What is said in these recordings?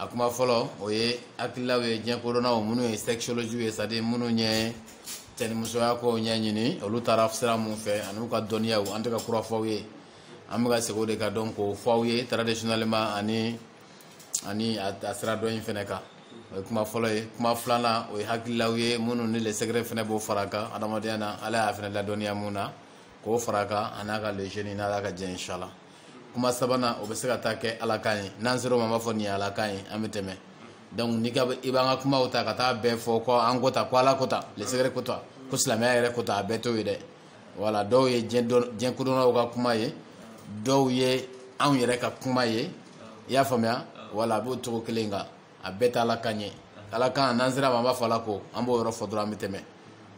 a kuma fɔlɔ o ye hakililaw ye diɲɛ kodɔnnaw minnu ye sexologuew ye c'est-à-dire minnu ye cɛnimusoya kow ɲɛɲini olu taara sira mun fɛ an'u ka dɔnniyaw an tɛ ka kura fɔ aw ye an bɛ ka segin o de kan dɔrɔn k'o fɔ aw ye traditionnellement ani ani a sira dɔn in fana kan o ye kuma fɔlɔ ye kuma filanan o ye hakililaw ye minnu ni lesɛgɛrɛ fana b'o fara a kan adamadenya na ala y'an fana ladɔnniya mun na k'o fara a kan a n'a ka le jeune n'ala ka jɛ inshallah kuma sabanan o bɛ se ka taa kɛ ala kan ye n'an sera o ma an b'a fɔ nin ye ala kan ye an bɛ tɛmɛ donc n'i ko i b'an ka kumaw ta ka taa a bɛɛ fɔ ko an ko tan ko ala ko tan lesegere ko tan ko silamɛya yɛrɛ ko tan a bɛɛ t'o ye dɛ voilà dɔw ye diɲɛ kodɔnnaw ka kuma ye dɔw ye anw yɛrɛ ka kuma ye i y'a faamuya voilà a b'o cogo kelen kan a bɛɛ tɛ ala kan ye ala kan n'an sera a ma an b'a fɔ ala ko an b'o yɔrɔ fɔ dɔrɔn an bɛ tɛmɛ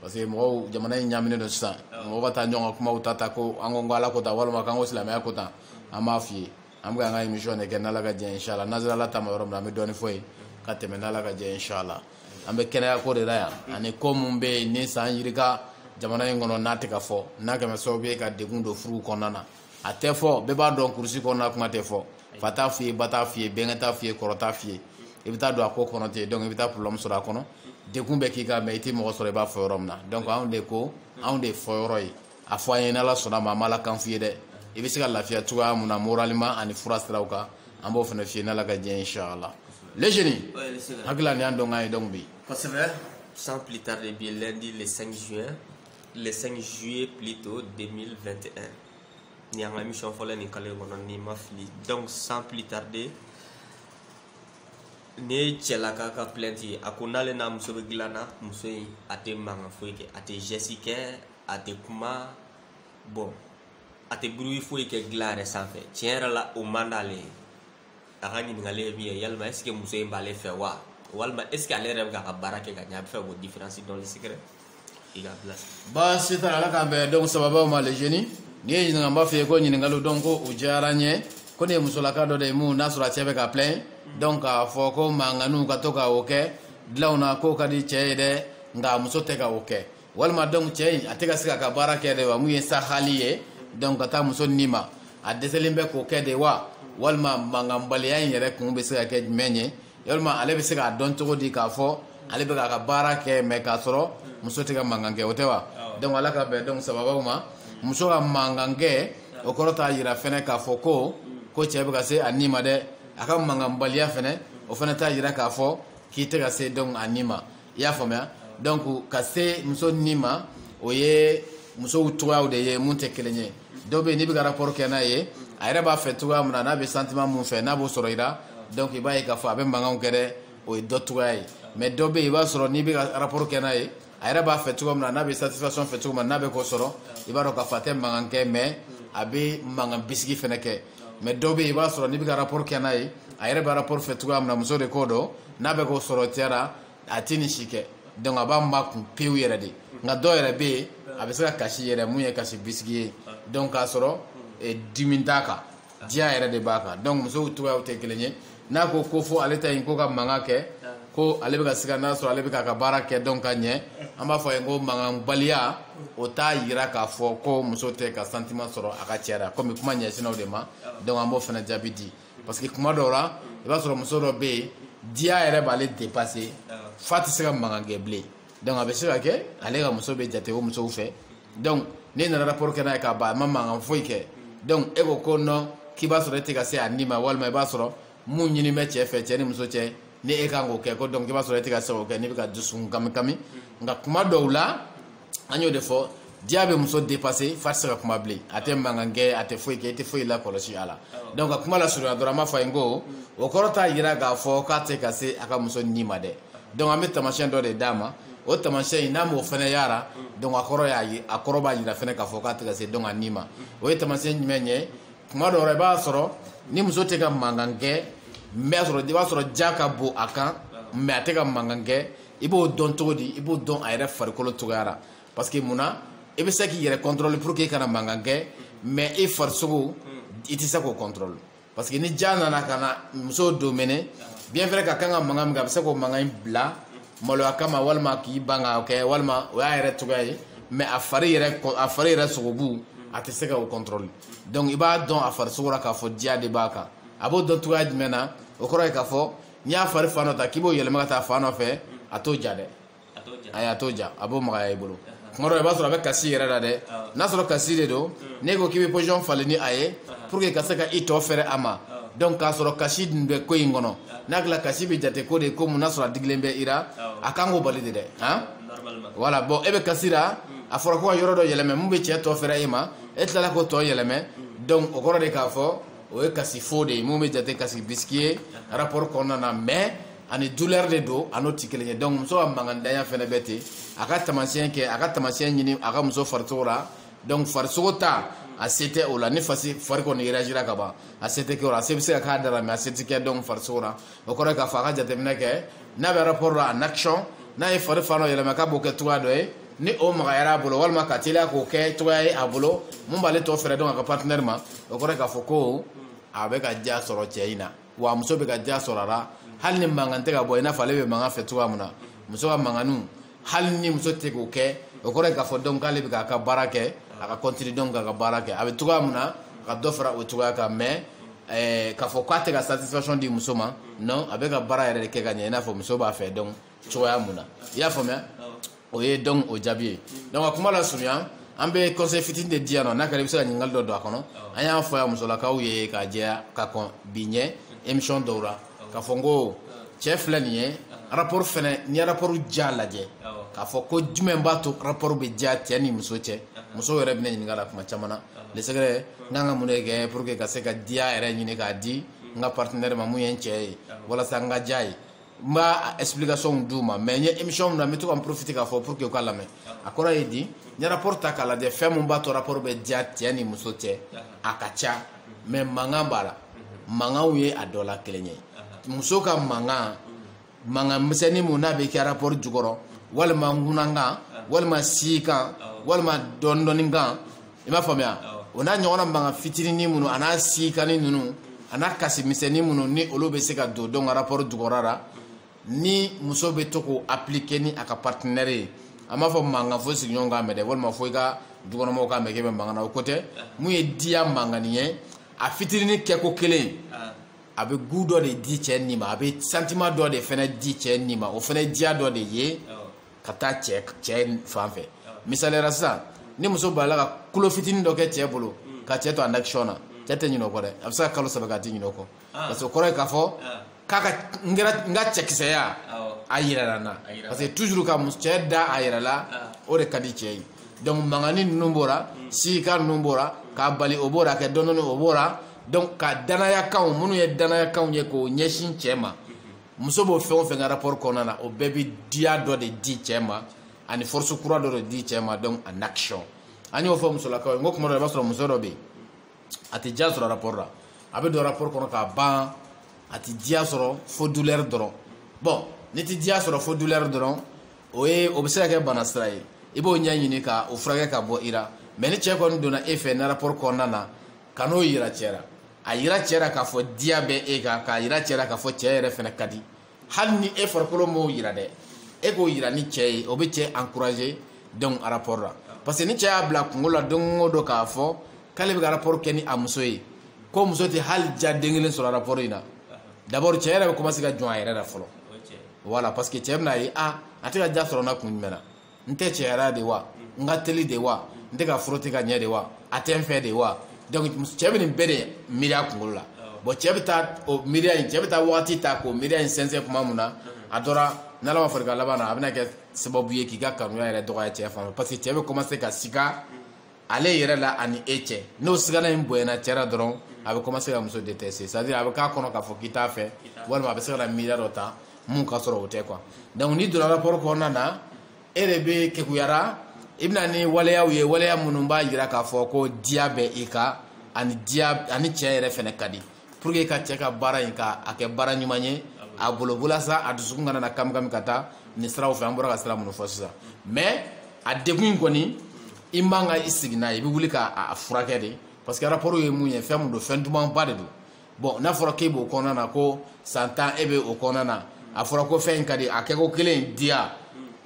parce que mɔgɔw jamana in ɲaminen don sisan mɔgɔw kana taa ɲɔgɔn ka kumaw ta ta ko an ko ko ala ko tan walima k'an ko silamɛya ko tan an b'a f'i ye an bɛ an ka émission de kɛ n'ala ka jɛ inshallah n'an sera ala ta ma yɔrɔ min na an bɛ dɔɔni fɔ yen ka tɛmɛ n'ala ka jɛ inshallah an bɛ kɛnɛya ko de la yan ani ko min bɛ yen ni san yirika jamana in kɔnɔ n'a tɛ ka fɔ n'a kɛlen bɛ sababu ye ka degun don furuw kɔnɔna na a tɛ fɔ bɛɛ b'a dɔn kurusi kɔnɔna kuma tɛ fɔ fa t'a f'i ye ba t'a f'i ye bɛnkɛ t'a f'i ye kɔrɔ t'a f'i ye i bɛ taa don a ko kɔnɔ ten donc i bɛ taa problème sɔrɔ a kɔnɔ degun bɛ k'i kan mais i tɛ mɔgɔ sɔrɔ i b'a fɔ yɔrɔ min na donc anw de ko anw de y'a fɔyɔrɔ ye a fɔ an ye n'ala sɔnna a ma an b'ala kan f'i ye dɛ i bɛ se ka lafiya cogoya mun na moralement ani fura siraw kan an b'o fana f'i ye n'ala ka diɲɛ inchallah le jeune n hakili la nin y'an donkan ye donc bi kosɛbɛ sans plus tarder bi lundi le 5 juin le 5 juillet plutôt 2021 nin y'an ka émission fɔlɔ nin kalo in kɔnɔ ni n ma fili donc sans plus tarder nin ye cɛlaka ka plainte ye a ko n'ale n'a muso bɛ dilan na muso in a tɛ mankan foyi kɛ a tɛ geste kɛ a tɛ kuma bon a tɛ bruit foyi kɛ dilan yɛrɛ sanfɛ tiɲɛ yɛrɛ la o man d'ale ye a ka ɲininkali ye min ye yalima est ce que muso in b'ale fɛ wa walima est ce que ale yɛrɛ bɛ k'a ka baara kɛ ka ɲɛ a bɛ fɛ k'o différence dɔn sikɛrɛ i ka bila baasi t'a la ala k'an bɛn donc sababaw ma le jeune n'i ye n ɲininka n b'a f'i ye ko ɲininkaliw donc ko u diyara n ye ko nin ye musolaka dɔ de ye mun n'a sɔrɔ a cɛ bɛ ka plaindre donc k'a fɔ ko mankanninw ka to ka o kɛ dilanw na k'o ka di cɛ ye dɛ nka muso tɛ ka o kɛ walima donc cɛ in a tɛ ka se k'a ka baara kɛ de wa mun ye sahali ye donc ka taa muso ni ma a dɛsɛlen bɛ k'o kɛ de wa walima mankanbaliya in yɛrɛ kun bɛ se ka kɛ jumɛn ye yalima ale bɛ se k'a dɔn cogo di k'a fɔ ale bɛ k'a ka baara kɛ mais k'a sɔrɔ muso tɛ ka mankan kɛ o tɛ wa donc ala k'an bɛn donc sababaw ma muso ka mankan kɛ o kɔrɔ t'a jira fɛnɛ k'a fɔ ko ko cɛ bɛ ka se a ni ma dɛ a ka mankanbaliya fɛnɛ o fɛnɛ t'a jira k'a fɔ k'i tɛ ka se donc a ni ma i y'a faamuya donc ka se muso ni ma o ye musow cogoyaw de ye mun tɛ kelen ye dɔ bɛ yen n'i bɛ ka rapport kɛ n'a ye a yɛrɛ b'a fɛ cogoya min na n'a bɛ sentiment mun fɛ n'a b'o sɔrɔ i la donc i b'a ye k'a fɔ a bɛ mankanw kɛ dɛ o ye dɔ cogoya ye mais dɔ bɛ yen i b'a sɔrɔ n'i bɛ ka rapport kɛ n'a ye a yɛrɛ b'a fɛ cogo min na n'a bɛ satisfaction fɛ cogo min na n'a bɛ k'o sɔrɔ i b'a dɔn k'a fɔ a tɛ mankan kɛ mais a bɛ mankan bisigi fana kɛ mais dɔ bɛ i b'a sɔrɔ n'i bɛ ka rapport kɛ n'a ye a yɛrɛ bɛ rapport fɛ cogoya min na muso de ko don n'a bɛ k'o sɔrɔ cɛ la a tɛ nin si kɛ donc a b'a makun pewu yɛrɛ de nka dɔw yɛrɛ bɛ yen a bɛ se ka kasi yɛrɛ mun ye kasi bisigi ye donc k'a sɔrɔ dimi t'a kan diya yɛrɛ de b'a kan donc musow cogoyaw tɛ kelen ye n'a ko ko fo ale ta in ko ka mankan kɛ ko ale bɛ ka siga n'a sɔrɔ ale bɛ k'a ka baara kɛ dɔn ka ɲɛ an b'a fɔ a ye ko mankanbaliya o t'a yira k'a fɔ ko muso tɛ ka sentiment sɔrɔ a ka cɛ la komi kuma ɲɛsinna anw de ma donc an b'o fana jaabi di parce que kuma dɔw la i b'a sɔrɔ muso dɔ bɛ yen diya yɛrɛ b'ale dépasser f'a tɛ se ka mankan kɛ bilen donc a bɛ se ka kɛ ale ka muso bɛ jate o musow fɛ donc n'e nana rapport kɛ n'a ye k'a ban a ma mankan foyi kɛ donc e ko ko non k'i b'a sɔrɔ e tɛ ka se a ni ma walima i b'a sɔrɔ mun ɲini bɛ cɛ fɛ cɛ ni muso cɛ ni e kan k'o kɛ ko donc i b'a sɔrɔ e tɛ ka se k'o kɛ n'i bɛ ka dusukun kami kami nka kuma dɔw la an y'o de fɔ diya bɛ muso dépasser f'a tɛ se ka kuma bilen a tɛ mankan kɛ a tɛ foyi kɛ i tɛ foyi lakɔlɔsi a la donc ka kuma lasurunya dɔrɔn an b'a fɔ a ye n ko o kɔrɔ t'a jira k'a fɔ k'a tɛ ka se a ka muso ni ma dɛ donc an bɛ tamasiyɛn dɔ de d'a ma o tamasiyɛn in n'a m'o fana yira donc a kɔrɔ y'a ye a kɔrɔ b'a jira fana k'a fɔ k'a tɛ ka se donc a ni ma o ye tamasiyɛn jumɛn ye tuma dɔw la i b'a sɔrɔ ni muso tɛ ka mankan kɛ mais sɔrɔ i b'a sɔrɔ diya ka bon a kan mais a tɛ ka mankan kɛ i b'o dɔn cogo di i b'o dɔn a yɛrɛ farikolo cogoya la parce que mun na i bɛ se k'i yɛrɛ contrôler pour que i kana mankan kɛ mais i farisogo i tɛ se k'o contrôler parce que ni diya nana ka na muso dominer bien vrai ka kan ka mankan min kɛ a bɛ se k'o mankan in bila maloya kama walima k'i ban k'a kɛ walima o y'a yɛrɛ cogoya ye mais a fari yɛrɛ a fari yɛrɛ sogobu a tɛ se ka o contrôler donc i b'a dɔn a farisogo la k'a fɔ diya de b'a kan a b'o dɔn cogoya jumɛn na o kɔrɔ ye k'a fɔ n'i y'a fari fan dɔ ta k'i b'o yɛlɛma ka taa fan dɔ fɛ a t'o ja dɛ ayi a t'o ja a b'o magaya i bolo tuma dɔ i b'a sɔrɔ a bɛ kasi yɛrɛ la dɛ n'a sɔrɔ kasi de don n'e ko k'i bɛ position falen ni a ye pour que ka se ka i tɔ fɛrɛ a ma donc k'a sɔrɔ kasi dun bɛ ko in kɔnɔ n'a tila kasi bɛ jate ko de ye ko mun n'a sɔrɔ a digilen bɛ i la a kan k'o bali de dɛ han voilà bon e bɛ kasi la a fɔra ko ka yɔrɔ dɔ yɛlɛmɛ mun bɛ cɛ tɔ fɛrɛ e ma e tilala k'o tɔ yɛlɛmɛ donc o kɔrɔ de k'a fɔ o ye kasi faux de ye mun bɛ jate kasi bisigi ye rapport kɔnɔna na mais ani douleur de don a n'o tɛ kelen ye donc muso ka mankantanya fana bɛ ten a ka taamasiyɛn kɛ a ka taamasiyɛn ɲini a ka muso farisogo la donc farisogo ta a se tɛ o la ni fasi fari kɔni réagira ka ban a se tɛ kɛ o la a se bɛ se ka k'a da la mais a se tɛ kɛ donc farisogo la o kɔrɔ ye k'a fɔ a ka jateminɛ kɛ n'a bɛ rapport la en action n'a ye fari fan dɔ yɛlɛma k'a b'o kɛ cogoya dɔ ye ni o magayara a bolo walima ka teliya k'o kɛ cogoya ye a bolo mun b'ale to fɛrɛ dɔn a ka partenaire ma o kɔrɔ ye k'a fɔ ko a bɛ ka diya sɔrɔ cɛ in na wa muso bɛ ka diya sɔrɔ a la hali ni mankan tɛ ka bɔ i n'a fɔ ale bɛ mankan fɛ cogoya min na muso ka mankanniw hali ni muso tɛ k'o kɛ o kɔrɔ ye k'a fɔ donc k'ale bɛ k'a ka baara kɛ a ka continuer donc k'a ka baara kɛ a bɛ cogoya min na a ka dɔ fara o cogoya kan mais eh, k'a fɔ k'a tɛ ka satisfaction di muso ma non a bɛ ka baara yɛrɛ de kɛ ka ɲɛ i n'a fɔ muso b'a fɛ donc cogoya mun na i y'a faamuya o ye donc o jaabi ye donc a kuma lasurunya an bɛ conseil fitinin de di yan nɔ n'a kɛra i bɛ se ka ɲininkali dɔ don a kɔnɔ an y'a fɔ yan musolakaw ye k'a jɛya ka kɔn bi ɲɛ émission dɔw la k'a fɔ n ko cɛ filɛ nin ye rapport fɛnɛ n'i ye rapport diya lajɛ k'a fɔ ko jumɛn b'a to rapport bɛ diya cɛ ni muso cɛ muso yɛrɛ bɛna ɲininka la tuma caman na le secret n kan ka mun de kɛ pour que n ka se ka diya yɛrɛ ɲini k'a di n ka partenaire ma mun ye n cɛ ye walasa n ka diya a ye n b'a explication d'u ma mais n ye émission min na n bɛ to ka n profite k'a fɔ pour que u k'a lamɛn a kɔrɔ ye di n'i ye rapport ta k'a lajɛ fɛn min b'a to rapport bɛ diya cɛ ni muso cɛ a ka ca mais mankan b'a la mankanw ye a dɔ la kelen ye muso ka mankan mankan misɛnnin mun n'a bɛ kɛ rapport jukɔrɔ walima ŋunakan walima siikan walima dɔɔnin dɔɔnin kan i m'a faamuya o n'a ɲɔgɔnna mankan fitinin minnu a n'a siikannin ninnu a n'a kasi misɛnnin minnu ni olu bɛ se ka don donc rapport jukɔrɔ la ni muso bɛ to k'o appliquer ni a ka partenaire ye an m'a fɔ mankan fo sigiɲɔgɔn k'a mɛn dɛ walima fo i ka dukɔnɔmɔgɔw k'a mɛn k'e bɛ mankan na o ko tɛ mun ye diya mankannin ye a fitinin kɛko kelen a bɛ goût dɔ de di cɛ nin ma a bɛ sentiment dɔ de fana di cɛ nin ma o fana ye diya dɔ de ye ka taa cɛ cɛ fan fɛ misaliya la sisan ni muso b'a la ka kulo fitinin dɔ kɛ cɛ bolo ka cɛ to en action na cɛ tɛ ɲinɛ o kɔ dɛ a bɛ se ka kalo saba kɛ a tɛ ɲinɛ o kɔ parce que o kɔrɔ ye k'a fɔ k'a ka n kɛra n ka cɛkisɛya a yɛrɛla n na parce que toujours ka cɛ da a yɛrɛ la o de ka di cɛ ye donc mankannin ninnu b'o la siikan ninnu b'o la k'a bali o b'o la kɛ dɔɔnin dɔɔnin o b'o la donc ka danayakanw minnu ye danayakanw ye k'o ɲɛsin cɛ ma muso b'o fɛn o fɛn kɛ rapport kɔnɔna na o bɛɛ bɛ diya dɔ de di cɛ ma ani force kura dɔ de di cɛ ma donc en action an y'o fɔ musolakaw ye n ko kuma dɔ la i b'a sɔrɔ muso dɔ bɛ yen a tɛ diya sɔrɔ rapport la a bɛ don rapport kɔnɔ k'a ban a tɛ diya sɔrɔ fo douleur dɔrɔn bon n'i tɛ diya sɔrɔ fo douleur dɔrɔn o ye o bɛ se ka kɛ bana sira ye i b'o ɲɛɲini ka o furakɛ ka bɔ i la mais ni cɛ kɔni donna e fɛ na rapport kɔnɔna na kan'o yira cɛ la a yira cɛ la k'a fɔ diya bɛ e kan k'a yira cɛ la k'a fɔ cɛ yɛrɛ fana ka di hali ni e farikolo m'o yira dɛ e k'o yira ni cɛ ye o bɛ cɛ encourager donc rapport la parce que ni cɛ y'a bila kunkolo la don o don k'a fɔ k'ale bɛ ka rapport kɛ ni a muso ye ko muso tɛ hali diya den kelen sɔrɔ rapport in na d'abord cɛ yɛrɛ bɛ commencer ka jɔn a yɛrɛ la fɔlɔ voilà parce que cɛ bɛn'a ye ah a tɛ ka diya sɔrɔ n na kun jumɛn na n tɛ cɛya la de wa n ka teli de wa n tɛ ka frotter ka ɲɛ de wa a tɛ n fɛ de wa donc cɛ bɛ nin bɛɛ de miiri a kunkolo la bon cɛ bɛ taa o miiriya in cɛ bɛ taa wagati ta k'o miiriya in sɛnsɛn kuma mun na a dɔ la n'ala ma fara i kan laban na a bɛna kɛ sababu ye k'i ka kanuya yɛrɛ dɔgɔya cɛ fan fɛ parce que cɛ bɛ commencer ka sika ale yɛrɛ la ani e cɛ n'o sigana in bonyana cɛ la dɔrɔn a bɛ commencer ka muso détester c'est à dire a bɛ k'a kɔnɔ k'a fɔ k'i t'a fɛ walima a bɛ se ka na miiriya dɔ ta mun ka sɔrɔ o tɛ quoi donc n'i donna rapport kɔnɔna na e de bɛ kekuya la i bɛna ni waleyaw ye waleya minnu b'a jira k'a fɔ ko diya bɛ i kan ani diya ani cɛ yɛrɛ fana ka di pour que ka cɛ ka baara in ka a kɛ baara ɲuman ye a bolo walasa a dusukun kana na kamikami ka taa nin siraw fɛ an bɔra ka sira minnu fɔ sisan mais a degun in kɔni i man kan i sigi n'a ye i bɛ wuli k'a furakɛ de parce que rapport ye mun ye fɛn mun don fɛn dumanba de don bon n'a fɔra k'e b'o kɔnɔna na ko san tan e bɛ o kɔnɔna na a fɔra ko fɛn in ka di a kɛko kelen in diya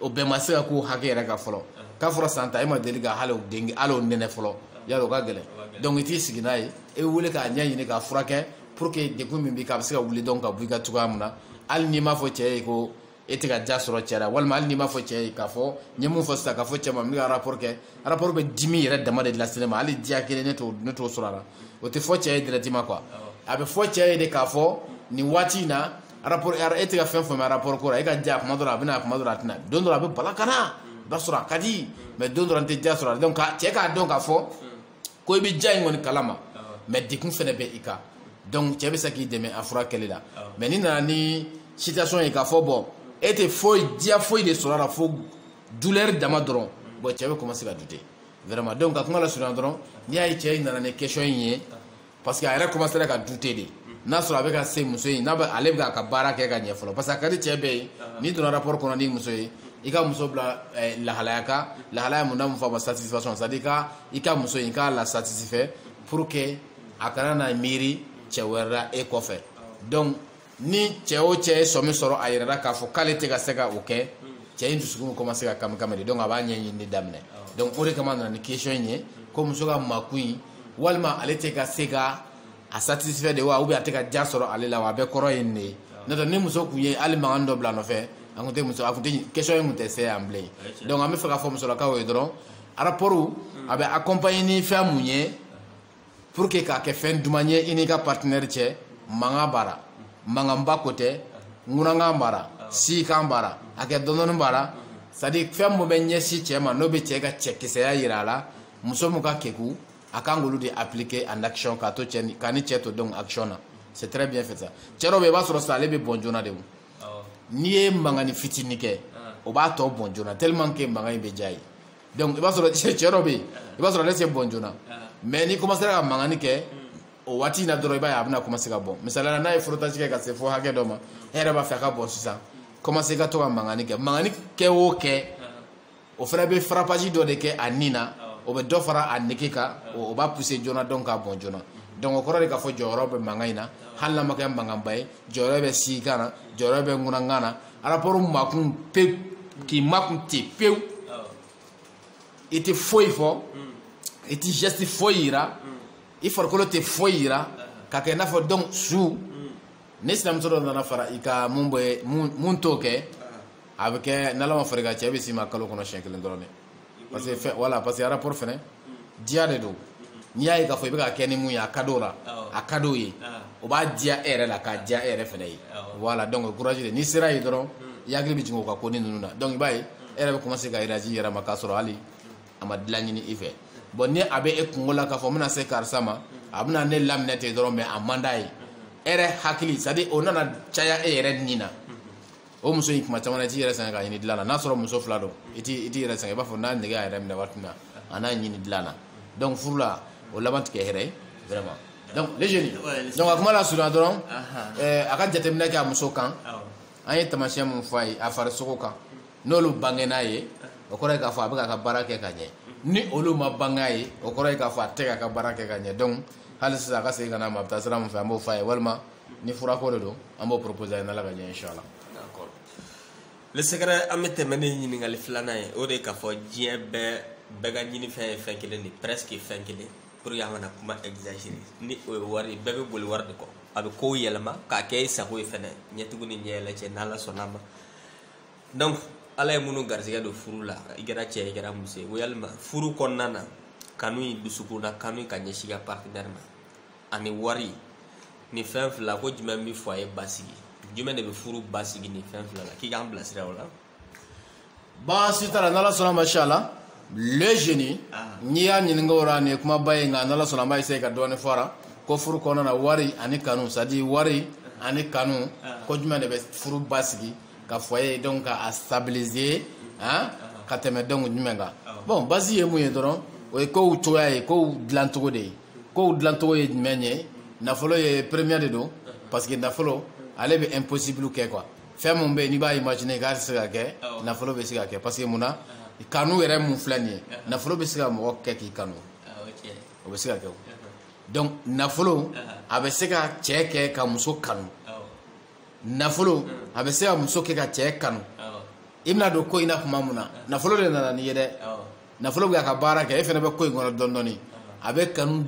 o bɛɛ ma se ka k'o hakɛ yɛrɛ kan fɔlɔ k'a fɔra san tan e ma deli ka hali o den hali o nɛnɛ fɔlɔ yala o ka gɛlɛn donc i t'i sigi n'a ye e bɛ wuli k'a ɲɛɲini k'a furakɛ pour que degun min b'i kan a bɛ se ka wuli dɔrɔn ka bɔ i kan cogoya min na hali n'i m'a fɔ cɛ ye ko e tɛ ka diya sɔrɔ cɛ la walima hali n'i m'a fɔ cɛ ye k'a fɔ n ye mun fɔ sisan k'a fɔ cɛ ma n bɛ ka rapport kɛ rapport bɛ dimi yɛrɛ dama de lase ne ma hali diya kelen ne t'o ne t'o sɔrɔ a la o tɛ fɔ cɛ ye directement quoi a bɛ fɔ cɛ ye de k'a fɔ nin waati in na rapport e tɛ ka fɛn faamu rapport ko la e ka diya kuma dɔ la a bɛ na kuma dɔ la a tɛ na don dɔ la a bɛ bala ka na i b'a sɔrɔ a ka di mais don dɔ la n tɛ diya sɔrɔ a la donc cɛ k'a dɔn k'a fɔ ko i bɛ diya in kɔni kalama mais degun fana bɛ i kan donc cɛ bɛ se k'i dɛmɛ a furakɛli la mais n'i nana ni situation ye k'a fɔ bon e tɛ foyi diya foyi de sɔrɔ a la fo douleur dama dɔrɔn bon cɛ bɛ commencer ka douter vraiment donc ka kuma lasurunya dɔrɔn n'i y'a ye cɛ in nana ni question in ye parce que a yɛrɛ commencéra ka douter de n'a sɔrɔ a bɛ ka se muso in na ale bɛ k'a ka baara kɛ ka ɲɛ fɔlɔ parce que a ka di cɛ bɛɛ ye n'i donna rapport kɔnɔ n'i muso ye i ka muso bila eh, lahalaya kan lahalaya mun n'a mun fɔ a ma satisfaction c'est à dire i ka i ka muso in i k'a la satisfait pour que a kana na miiri cɛ wɛrɛ la e kɔfɛ donc ni cɛ o cɛ ye sɔmi sɔrɔ a yɛrɛ la k'a fɔ k'ale tɛ ka se ka o kɛ cɛ in dusukun commencer ka kamikami de donc a b'a ɲɛɲinini daminɛ donc o de kama a nana ni question in ye ko muso ka makun in walima ale tɛ ka se ka a satisfait de wa ou bien a tɛ ka diya sɔrɔ ale la wa a bɛɛ kɔrɔ ye nin de ye n'o tɛ ni muso tun ye hali mankan dɔ bila a nɔfɛ an tun tɛ muso a tun tɛ question in tun tɛ se yan bilen donc an bɛ fɛ k'a fɔ musolakaw ye dɔrɔn rapport a bɛ accompagner ni fɛn mun ye pour que k'a kɛ fɛn duman ye i n'i ka partenaire cɛ mankan b'a la mankanba ko tɛ ŋunankan b'a la sikan b'a la a kɛ dɔndɔni b'a la c'est à dire fɛn min bɛ ɲɛsin cɛ ma n'o bɛ cɛ ka cɛkisɛya yira a la muso min ka keku a kan k'olu de appliquer en action k'a to cɛ ni k'a ni cɛ to donc action na c'est très bien fait ça cɛ dɔw bɛ yen i b'a sɔrɔ sisan ale bɛ bɔn joona de o n'i ye mankanni fitinin kɛ o b'a to bɔn joona tellement que mankan in bɛ diya a ye donc i b'a sɔrɔ cɛ dɔ bɛ yen i b'a sɔrɔ ale tɛ bɔn joona mais n'i commencera ka mankanni kɛ o waati in na dɔrɔn i b'a ye a bɛna commencer ka bɔn misaliya la n'a ye frottage kɛ ka se fo hakɛ dɔ ma e yɛrɛ b'a fɛ a ka bɔn sisan commencer ka to ka mankanni kɛ mankanni kɛ o kɛ o fana bɛ frappage dɔ de kɛ a ni na o bɛ dɔ fara a nege kan o b'a pousser joona donc k'a bɔn joona donc o kɔrɔ de k'a fɔ jɔyɔrɔ bɛ mankan in na hali n'a ma kɛ mankanba ye jɔyɔrɔ bɛ sikan na jɔyɔrɔ bɛ ŋunankan na rapport makun e k'i makun ten pewu i tɛ foyi fɔ i tɛ geste foyi yira i farikolo tɛ foyi yira ka kɛ i n'a fɔ donc su ni sinamuso dɔ nana fara i kan mun bɛ mun t'o kɛ a bɛ kɛ n'ala ma far'i kan cɛ bɛ s'i ma kalo kɔnɔ siɲɛ kelen dɔrɔn de parce que voilà parce que rapport fana diya de don n'i y'a ye k'a fɔ i bɛ ka kɛ ni mun ye a ka d'o la a ka d'o ye o b'a diya e yɛrɛ la k'a diya e yɛrɛ fana ye voilà donc courage de n'i sera yen dɔrɔn i hakili bɛ jigin o ka konin ninnu na donc i b'a ye e yɛrɛ bɛ commencer ka énergie yɛrɛ ma k'a sɔrɔ hali a ma dilan ɲini i fɛ bon ni a bɛ e kunkolo la k'a fɔ n bɛna se karisa ma a bɛna ne laminɛ ten dɔrɔn mais a man d'a ye e yɛrɛ hakili c'est à dire o nana caya e yɛrɛ ni na o muso in kuma caman i t'i yɛrɛ sɛgɛn k'a ɲini dilan na n'a sɔrɔ muso fila don i t'i yɛrɛ sɛgɛn i b'a fɔ n'a nege y'a yɛrɛ minɛ waati min na a n'a ɲini dilan na donc furu la o laban tɛ kɛ hɛrɛ ye vraiment donc les jeunes donc a kuma lasurunya dɔrɔn eh, a ka jateminɛ kɛ a muso kan an ye tamasiyɛn min fɔ a ye a farisogo kan n'olu bangen'a ye o kɔrɔ ye k'a fɔ a bɛ k'a ka baara kɛ ka ɲɛ ni olu ma bange a ye o kɔrɔ ye k'a fɔ a tɛ k'a ka baara kɛ ka ɲɛ donc hali sisan a ka segin ka na a ma a bɛ taa sira min fɛ an b'o fɔ a ye walima ni furako de don an b'o proposer a ye n'ala ka ɲɛ inshallah d'accord le secret an bɛ tɛmɛ ni ɲininkali filanan ye o de ye k'a fɔ diɲɛ bɛɛ bɛɛ ka ɲinifɛn ye fɛn kelen de presque fɛn kelen pour que an kana kuma exagérer ni o ye wari bɛɛ bɛ boli wari de kɔ a bɛ kow yɛlɛma k'a kɛ i sago ye fɛnɛ ɲɛtugu ni ɲɛyɛlɛ cɛ n'ala sɔnna ma donc ala ye minnu garisɛgɛ don furu la i kɛra cɛ i kɛra muso ye yalima furu kɔnɔna na kanu in dusukun na kanu ka ɲɛsin i ka partenaire ma ani wari nin fɛn fila ko jumɛn bɛ foyer basigi jumɛn de bɛ furu basigi nin fɛn fila la k'i k'an bilasira o la baasi t'a la n'ala sɔnna ma inshallah le jeune ah. n'i y'a ɲininka o la nin ye kumaba ye nka n'ala sɔnna an b'a essayer ka dɔɔni fɔ a la ko furu kɔnɔna na wari ani kanu c'est à dire wari ah. ani kanu ah. ko jumɛn de bɛ furu basigi ka foyer donc ka a stabiliser hein ka tɛmɛ donc jumɛn kan bon basi ye mun ye dɔrɔn o ye kow cogoya ye kow dilancogo de ye kow dilancogo ye jumɛn ye nafolo ye premier de don parce que nafolo ale bɛ impossible kɛ quoi fɛn min bɛ yen n'i b'a imaginer k'a tɛ se ka kɛ nafolo bɛ se k'a kɛ parce que mun na kanu yɛrɛ min filɛ nin ye nafolo bɛ se ka mɔgɔ kɛ k'i kanu o bɛ se ka kɛ o donc nafolo a bɛ se ka cɛ kɛ ka muso kanu nafolo a bɛ se ka muso kɛ ka cɛ kanu i bɛna don ko in na tuma min na nafolo de nana n'i ye dɛ nafolo bɛ ka baara kɛ e fana bɛ ko in kɔnɔ dɔɔnin dɔɔnin a bɛ kanu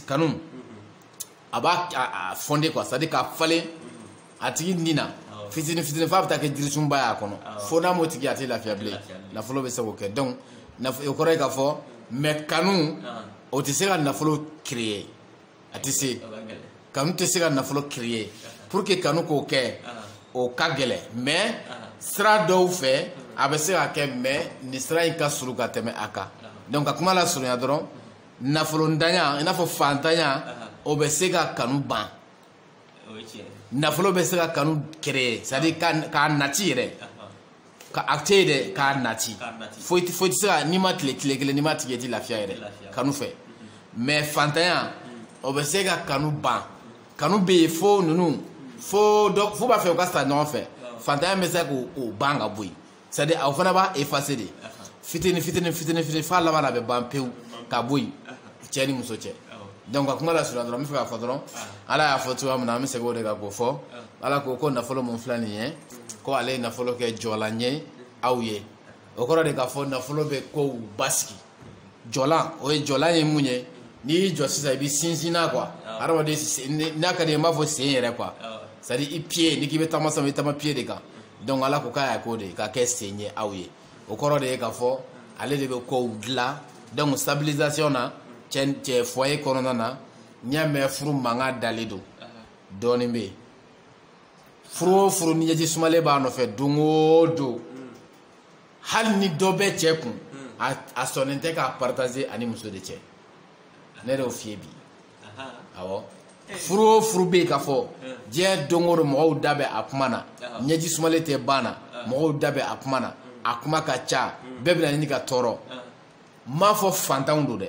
kanu a b'a a fonder quoi c'est à dire k'a falen a tigi ni na fitini fitini f'a bɛ taa kɛ jirisunba y'a kɔnɔ fo n'a m'o tigi a tɛ lafiya bilen nafolo bɛ se k'o kɛ donc o kɔrɔ ye k'a fɔ mais kanu o tɛ se ka nafolo créer a tɛ se kanu tɛ se ka nafolo créer pour que kanu k'o kɛ o ka gɛlɛn mais sira dɔw fɛ a bɛ se ka kɛ mais nin sira in ka surun ka tɛmɛ a kan donc ka kuma lasurunya dɔrɔn nafolontanya i n'a fɔ fantanya o bɛ se ka kanu ban nafolo bɛ se ka kanu créer c'est à dire k'a nati yɛrɛ. ka a tɛ ye dɛ k'a nati fo i tɛ se ka n'i ma tile tile kelen n'i m'a tigi ye i tɛ lafiya yɛrɛ kanu fɛ mais fantanya o bɛ se ka kanu ban kanu bɛ yen fo ninnu fo dɔ fo b'a fɛ u ka sa ɲɔgɔn fɛ fantanya bɛ se k'o ban ka bɔ yen c'est à dire aw fana b'a effacer de fitini fitini fitini fitini f'a laban na a bɛ ban pewu ka bɔ yen. cɛ ni muso cɛ donc ka kuma lasurunya dɔrɔn n bɛ fɛ k'a fɔ dɔrɔn ala y'a fɔ cogoya min na an bɛ segin o de kan k'o fɔ ala ko ko nafolo min filɛ nin ye ko ale ye nafolo kɛ jɔlan ye aw ye o kɔrɔ de k'a fɔ nafolo bɛ kow basigi jɔlan o ye jɔlan ye mun ye n'i y'i jɔ sisan i bɛ sinsin n'a quoi hadamaden n'a ka d'i ye n b'a fɔ sen yɛrɛ quoi c'est à dire i pied n'i k'i bɛ taama sisan i bɛ taama pied de kan donc ala ko k'a y'a k'o de ye k'a kɛ sen ye aw ye. o kɔrɔ de ye k'a fɔ ale de bɛ kow dilan donc stabilisation na cɛ cɛ foyer kɔnɔna na n'i y'a mɛn furu mankan dalen don dɔɔnin bɛ yen furu o furu ni ɲɛji sumalen b'a nɔfɛ don o don hali ni dɔ bɛ cɛ kun a sɔnnen tɛ k'a partager a ni muso de cɛ ne de y'o f'i ye bi. furu o furu bɛ yen k'a fɔ diɲɛ don o don mɔgɔw da bɛ a kuma na ɲɛji sumalen tɛ ban na mɔgɔw da bɛ a kuma na a kuma ka ca bɛɛ bɛna ɲini ka tɔɔrɔ n m'a fɔ fantanw don dɛ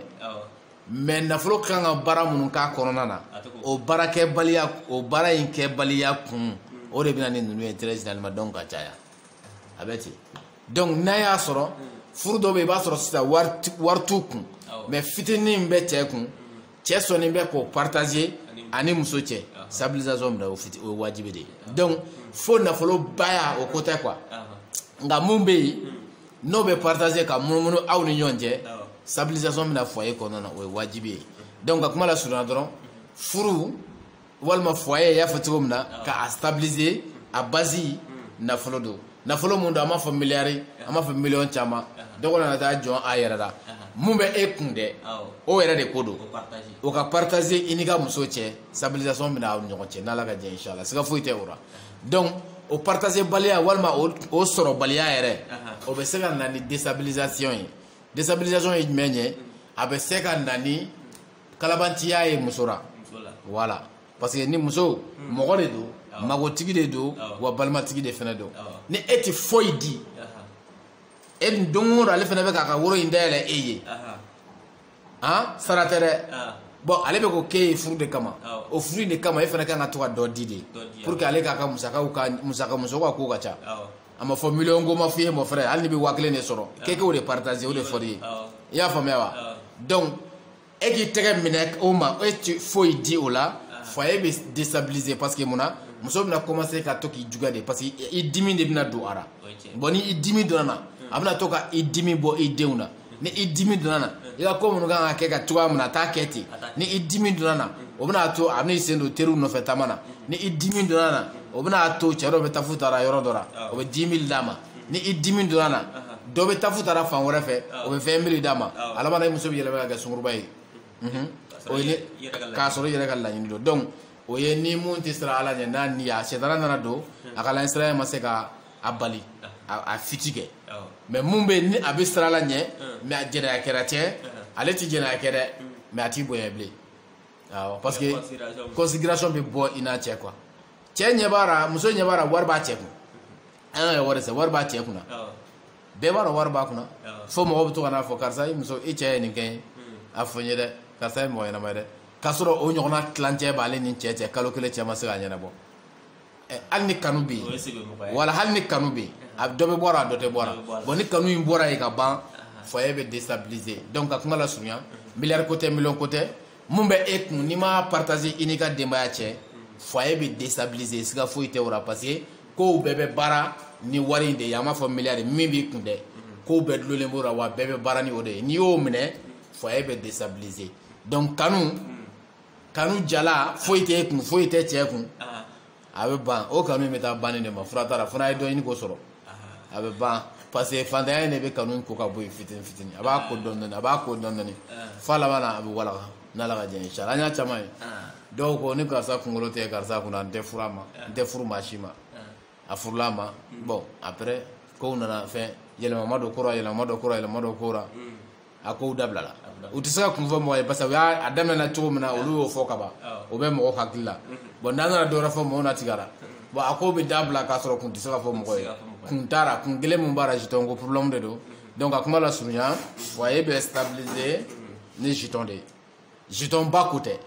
mais nafolo ka kan ka baara minnu k'a kɔnɔna na o baara kɛbaliya o baara in kɛbaliya kun o de bɛ na ni ninnu ye très généralement donc a caya a bɛ ten donc n'a y'a sɔrɔ furu dɔw bɛ i b'a sɔrɔ sisan wari t'u kun mais fitinin bɛ cɛ kun cɛ sɔnnen bɛ k'o partager a ni muso cɛ stabilisation bɛ na o fiti o ye wajibi de ye donc fɔ nafolobaya o ko tɛ quoi nka mun bɛ yen n'o bɛ partager ka munumunu aw ni ɲɔgɔn cɛ stabilisation bɛna foyer kɔnɔna na o ye wajibi ye donc ka kuma lasurunya dɔrɔn furu walima foyer y'a fɔ cogo min na ka a stabiliser a base nafolo don nafolo mun don an m'a fɔ miliyari an m'a fɔ miliyɔn caman dɔ kɔnɔ na taa jɔn a yɛrɛ la mun bɛ e kun dɛ o yɛrɛ de ko don o ka partager i n'i ka muso cɛ stabilisation bɛna aw ɲɔgɔn cɛ n'ala ka jɛ inshallah siga foyi tɛ o la donc o partager baliya walima o sɔrɔbaliya yɛrɛ o bɛ se ka na ni déstabilisation ye déstabilisation ye jumɛn ye a bɛ se ka na ni kalabantiya ye muso ra voilà parce que ni muso hmm. mɔgɔ de don magotigi de don wa balimatigi de fana don ni e tɛ foyi di e dun don o don ale fana bɛ k'a ka woro in dayɛlɛ e ye han sara tɛ dɛ bon ale bɛ ko k'e ye furu de kama o furu in de kama e fana kan ka to ka dɔ di de pour que ale k'a ka musakaw ka musaka musow ka ko ka ca a ma fɔ miliyɔn ko ma f'i ye mon frère hali n'i bɛ waa kelen de sɔrɔ k'e k'o de partager o de fɔr'i ye i y'a faamuya wa donc e k'i tɛgɛ minɛ o ma e ti foyi di o la foyer bɛ déstabiliser parce que mun na muso bɛna commencer ka to k'i juguya de parce que i dimi de bɛna don a la bon ni i dimi donna na a bɛna to ka i dimi bɔ i denw na ni i dimi donna na i ka ko minnu kan ka kɛ ka cogoya min na a t'a kɛ ten ni i dimi donna na o bɛna to a bɛna i sen don teriw nɔfɛ taama na ni i dimi donna na o bɛna to cɛ dɔ bɛ tafu tara yɔrɔ dɔ la o bɛ dix mille d'a ma ni i dimi donna na dɔ bɛ tafu tara fan wɛrɛ fɛ o bɛ vingt mille d'a ma a laban na i muso bɛ yɛlɛma ka kɛ sunguruba ye o ye k'a sɔrɔ i yɛrɛ ka laɲini don donc o ye ni mun tɛ siran ala ɲɛ n'a ni a sitanɛ nana don a kan ala ɲɛsiran ma se ka a bali a fiti kɛ mais mun bɛ ni a bɛ siran ala ɲɛ mais a jɛnɛya kɛra cɛ ale tɛ jɛnɛya kɛ dɛ mais a t'i bonya bilen awɔ parce que considération bɛ bɔ i n'a cɛ quoi cɛ ɲɛ b'a la muso ɲɛ b'a la wari b'a cɛ kun an ka wari sɛ wari b'a cɛ kunna bɛɛ b'a dɔn wari b'a kunna fo mɔgɔw bɛ to ka n'a fɔ karisa i muso i cɛ ye nin kɛ ye a fɔ n ye dɛ karisa ye mɔgɔ ɲɛnama ye dɛ k'a sɔrɔ o ɲɔgɔnna tilancɛ b'ale ni cɛ cɛ kalo kelen cɛ ma se k'a ɲɛnabɔ hali ni kanu bɛ yen voilà hali ni kanu bɛ yen a dɔ bɛ bɔ a ra a dɔ tɛ bɔ a ra bon ni kanu in bɔra yen ka ban foyer bɛ déstabiliser donc ka kuma lasurunya miliyari ko tɛ miliyɔn ko tɛ mun bɛ e kun n'i m'a partager i n'i ka denbaya cɛ foyer bɛ déstabiliser siga foyi tɛ o la parce que kow bɛɛ bɛ baara ni wari in de ye an m'a fɔ miliyari min b'i kun dɛ kow bɛɛ dulolen b'o la wa bɛɛ bɛ baara ni o de ye n'i y'o minɛ foyer bɛ déstabiliser donc kanu kanu jalan foyi tɛ kun foyi tɛ cɛ kun a bɛ ban o kanu in bɛ taa banni de ma fura t'a la fo n'a ye dɔ ɲini k'o sɔrɔ a bɛ ban parce que fantanya in de bɛ kanu in ko ka bɔ yen fitini fitini a b'a ko dɔɔni dɔɔni a b'a ko dɔɔni dɔɔni f'a laban na a bɛ walaka n'ala ka jɛn inshallah an y'a caman ye dɔw ko ni karisa kunkolo tɛ karisa kunna n tɛ furu ma n tɛ furu maa si ma a furula a ma bɔn après kow nana fɛn yɛlɛma ma don kura yɛlɛma ma don kura yɛlɛma ma don kura a kow dabilala u tɛ se ka kun fɔ mɔgɔ ye parce que u y'a daminɛ cogo min na olu y'o fɔ ka ban o bɛ mɔgɔ hakili la bɔn n'an nana dɔwɛrɛ fɔ mɔgɔw na tigara bɔn a kow bɛ dabila k'a sɔrɔ kun tɛ se ka fɔ mɔgɔ ye kun t'a ra kun kelen min b'a la jeton ko problème de don donc a kuma lasurunya foyer bɛ stabiliser ni jeton de ye jeton ba ko tɛ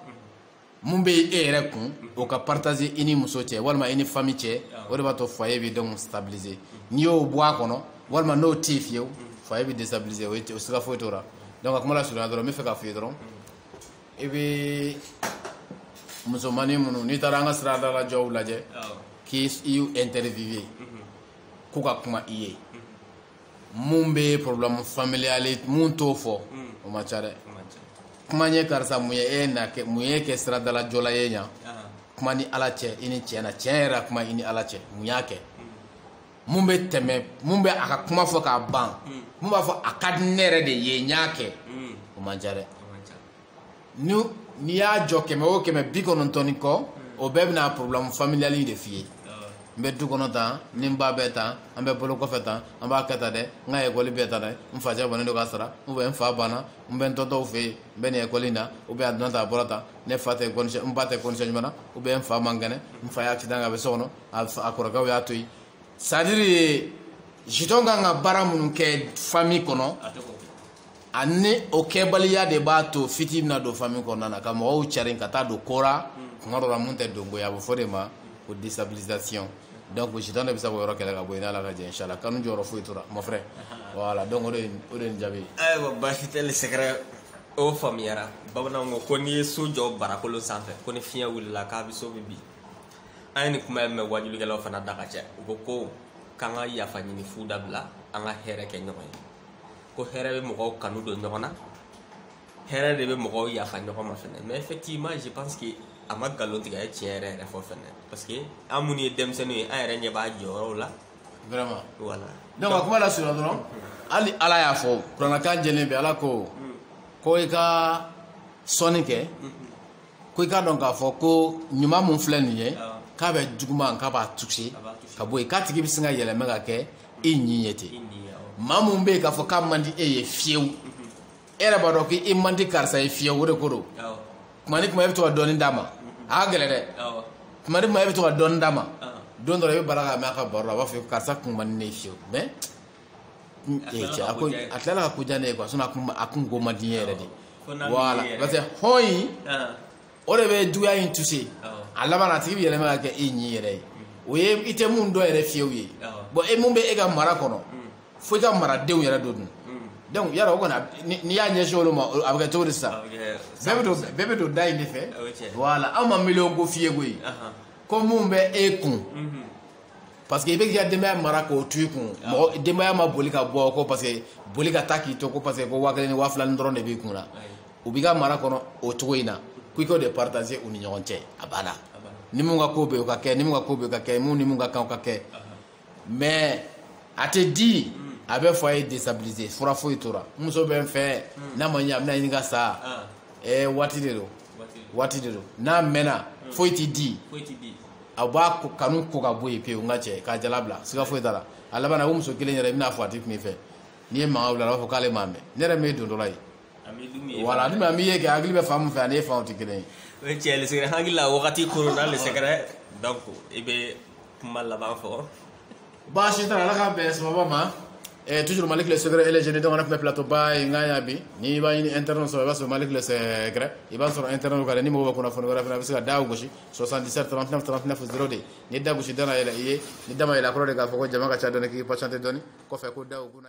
mun bɛ e yɛrɛ kun o ka partager i ni muso cɛ walima i ni famille cɛ o de b'a to foyer bɛ donc stabiliser n'i y'o bɔ a kɔnɔ walima n'o tɛ yen fiyewu foyer bɛ destabiliser o ye o siga foyi t'o la donc a kuma lasurunya dɔrɔn n b'a fɛ k'a f'i ye dɔrɔn i bɛ musomannin minnu n'i taara an ka siradalajɔw lajɛ k'u interviewer k'u ka kuma i ye. mun bɛ problème familial mun t'o fɔ hmm. o man ca dɛ kuma ye karisa mun ye e na kɛ mun y'e kɛ siradalajɔla ye yan kuma ni ala cɛ i ni cɛ na tiɲɛ yɛrɛ kuma i ni ala cɛ mun y'a kɛ hmm. mun bɛ tɛmɛ mun bɛ a ka kuma fɔ k'a ban hmm. mun b'a fɔ a ka di ne yɛrɛ de ye n y'a kɛ o man ca dɛ ni n'i y'a jɔ kɛmɛ o kɛmɛ bi kɔnɔntɔn ni kɔ o bɛɛ bɛna problème familiale de f'i ye n bɛ du kɔnɔ tan ni n ba bɛ tan an bɛ bolo kɔfɛ tan an b'a kɛ tan dɛ n ka ekɔli bɛ tan dɛ n facɛ bannen don k'a sara ou bien n fa banna n bɛ n tontonw fɛ yen n bɛ nin ekɔli in na ou bien a donna tan a bɔra tan ne fa tɛ condition n ba tɛ condition ɲuman na ou bien n fa man kɛnɛ n fa ye accident a bɛ so kɔnɔ a kɔrɔkɛw y'a to yen c'est-à-dire jeton kan ka baara minnu kɛ fami kɔnɔ ani o kɛbaliya de b'a to fitinɛ bɛna don fami kɔnɔna na ka mɔgɔw carin ka taa don ko ra tuma dɔ la mun tɛ dungɔ ye a bɛ f'o de ma ko destabilisation donc jeton de bɛ se k'o yɔrɔ kɛlɛ ka bɔ yen n'ala ka jɛ inshallah kanu jɔyɔrɔ foyi t'o ra mon frère voilà donc o de ye o de ye nin jaabi ye. ayiwa baasi tɛ le sɛgɛrɛ o faamuyara bamananw ko ko n'i ye so jɔ barakolo sanfɛ ko ni fiɲɛ wulila k'a bɛ so bɛɛ bin an ye nin kuma in mɛn wajulikɛlaw fana da ka cɛ u ko ko k'an ka yafa ɲini fu dabila an ka hɛrɛ kɛ ɲɔgɔn ye ko hɛrɛ bɛ mɔgɔw kanu don ɲɔgɔn na hɛrɛ de bɛ mɔgɔw yafa ɲɔgɔn ma fɛnɛ mais effectivement je pense que a ma nkalon tigɛ a ye tiɲɛ yɛrɛ yɛrɛ fɔ fɛnɛ parce que an minnu ye denmisɛnninw ye an yɛrɛ ɲɛ b'a jɔyɔrɔw la vraiment voilà donc a kuma lasurunya dɔrɔn hali ala y'a fɔ kuranɛ kan jɛlen bɛ ala ko ko i ka sɔnni kɛ ko i k'a dɔn k'a fɔ ko ɲuman mun filɛ nin ye k'a bɛ juguman k'a b'a jɔsi ka bɔ yen k'a tigi bɛ sin ka yɛlɛmɛ ka kɛ i ɲi ye ten maa mun bɛ yen k'a fɔ k'a man di e ye fiyewu e yɛrɛ b'a dɔn k'i man di karisa ye fiyewu o de ko don tuma ni tuma e bɛ to ka dɔɔni d'a ma a ka gɛlɛn dɛ tuma ni tuma e bɛ to ka dɔɔni d'a ma don dɔ la i bɛ bala k'a mɛn a ka baro la a b'a fɔ karisa ko man di ne ye fiyewu mais cɛ a ko a tilala ka ko diya ne ye quoi a kun a kun ko man di n ye yɛrɛ de voilà parce que hɔn in o de bɛ juguya in toucher a laban a tigi bɛ yɛlɛma ka kɛ e ɲin yɛrɛ ye o ye i tɛ mun dɔn yɛrɛ fiyewu ye bon e mun bɛ e ka mara kɔnɔ fo i ka maradenw yɛrɛ don dun donc yala o kɔni n'i y'a ɲɛsin olu ma a bɛ kɛ cogo di sisan bɛɛ bɛ don bɛɛ bɛ don da in de fɛ voilà anw ma miliyɔn ko f'i ye koyi ko mun bɛ e kun parce que i bɛ k'i ka denbaya mara k'o to i kun mɔgɔ denbaya ma boli ka bɔ ko parce que boli ka taa k'i to ko parce que ko waa kelen ni waa fila ni dɔrɔn de b'i kun na u b'i ka mara kɔnɔ o cogo in na ko i k'o de partager u ni ɲɔgɔn cɛ a banna ni mun ka ko bɛ o ka kɛ ni mun ka ko bɛ o ka kɛ mun ni mun ka kan o ka kɛ mais a tɛ di a bɛ fɔ a ye destabiliser fura foyi tora n muso bɛ n fɛ n'a ma ɲɛ a bɛna ɲini ka sa ɛɛ waati de don waati de don n'a mɛnna foyi tɛ di a b'a kanu ko ka bɔ yen pewu nka cɛ k'a jala bila siga foyi t'a la a labanna o muso kelen yɛrɛ i bɛn'a fɔ a tɛ kuma i fɛ n'i ye mankan wuli a b'a fɔ k'ale m'a mɛn ne yɛrɛ min ye dondɔla ye voilà ni maa min ye kɛ hakili bɛ fan min fɛ ani e fan tɛ kelen ye o ye tiɲɛ le secret hakili la wagati kɔrɔla le secret donc i bɛ kuma laban fɔ baasi t'a la ala k'an bɛn sababu ma Eh, toujours maliki le secret elejeni dɔgɔna tun bɛ plateau ba in kan yan bi n'i b'a ɲini internet sɔrɔ i b'a sɔrɔ maliki le secret i b'a sɔrɔ internet kan dɛ ni mɔgɔ bɛ kunnafoni wɛrɛ fana a bɛ se ka da gosi 77 39 39 0 de ni da gosi da na yɛlɛ i ye ni da ma yɛlɛ a kɔrɔ de k'a fɔ ko jama ka ca dɔɔni k'i patiente dɔɔni kɔfɛ ko da o kuna